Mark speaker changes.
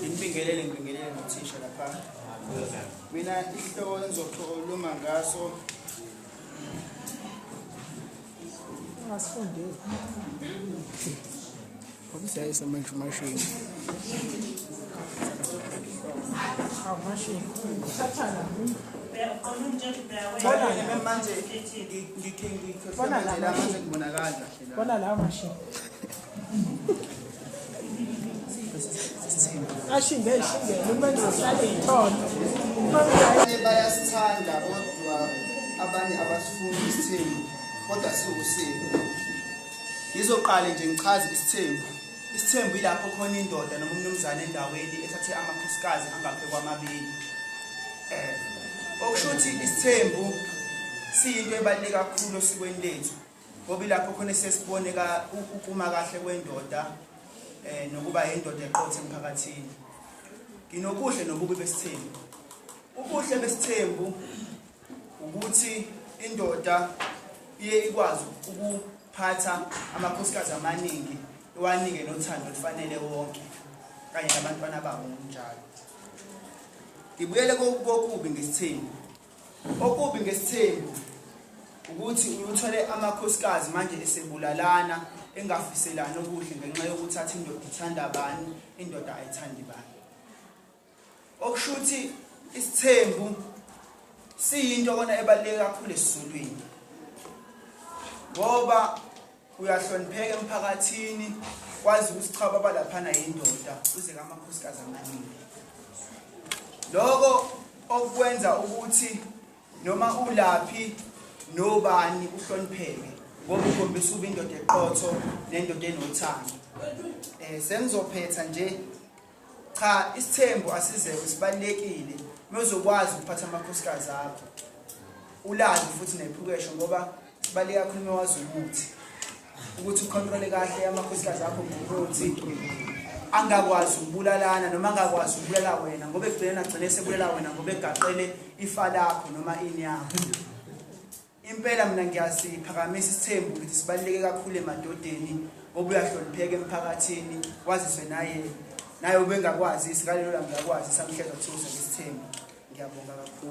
Speaker 1: Ngibingelele ngibingelele nothisha lapha. Mina ihloko engizokhuluma ngaso ungasifundeli.
Speaker 2: Obusayisa manje mashini. Awu mashini. Sathana.
Speaker 1: Manje
Speaker 2: ngikhe ngikhe.
Speaker 1: Bona la mashini.
Speaker 2: ashinde eshingele uma ngizohlala iy'thole abanye bayasithanda
Speaker 1: kodwa abanye abasifuni isithembu kodwa siwusini ngizoqale nje ngichaze isithembu isithembu yilapho khona indoda noma umnumzane endaweni ethathe amakhosikazi angaphe kwamabili um okusho ukuthi isithembu siyinto ebaluleke kakhulu osikweni lethu ngoba ilapho khona sesibone ukuma kahle kwendoda um nokuba yindoda eqothe emphakathini nginobuhle nobubi besithembu ubuhle besithembu ukuthi indoda iye ikwazi ukuphatha amakhosikazi amaningi iwanike nothando olufanele wonke kanye nabantwana babo ngokunjalo ngibuyele kokubi ngesithembu Okubi ngesithembu ukuthi uthole amakhosikazi manje esebulalana engafiselani okuhle ngenxa yokuthi athi indoda ithanda bani indoda ayithandi bani okusho ukuthi isithembu siyinto kona ebaluleke kakhulu esizulwini ngoba uyahlonipheka emphakathini kwazi ukuthi cha baba laphana yindoda uze kamakhosikazi amaningi loko okwenza ukuthi noma ulaphi nobani uhlonipheke ngoba ukhombisa uba indoda eqotho nendoda enothando um sengizophetha nje Cha isithembu asizekho sibalekile mezokwazi ukuphatha amakhosikazi akho. Ulazi futhi nephukesho ngoba sibaleka kakhulu mewazi ukuthi ukuthi ukhontrole kahle amakhosikazi akho ngokuthi angakwazi ukubulalana noma angakwazi ukubulala wena ngoba ekugcineni agcine sebulala wena ngoba egaqele ifa lakho noma ini yakho Impela mina ngiyasiphakamisa isithembu ukuthi sibaluleke kakhulu emadodeni ngoba uyahlonipheka emphakathini waziswe naye naye ubengakwazisi ngalelo langa yakwazi samhleza kuthiwa usebesithembu ngiyabonga kakhulu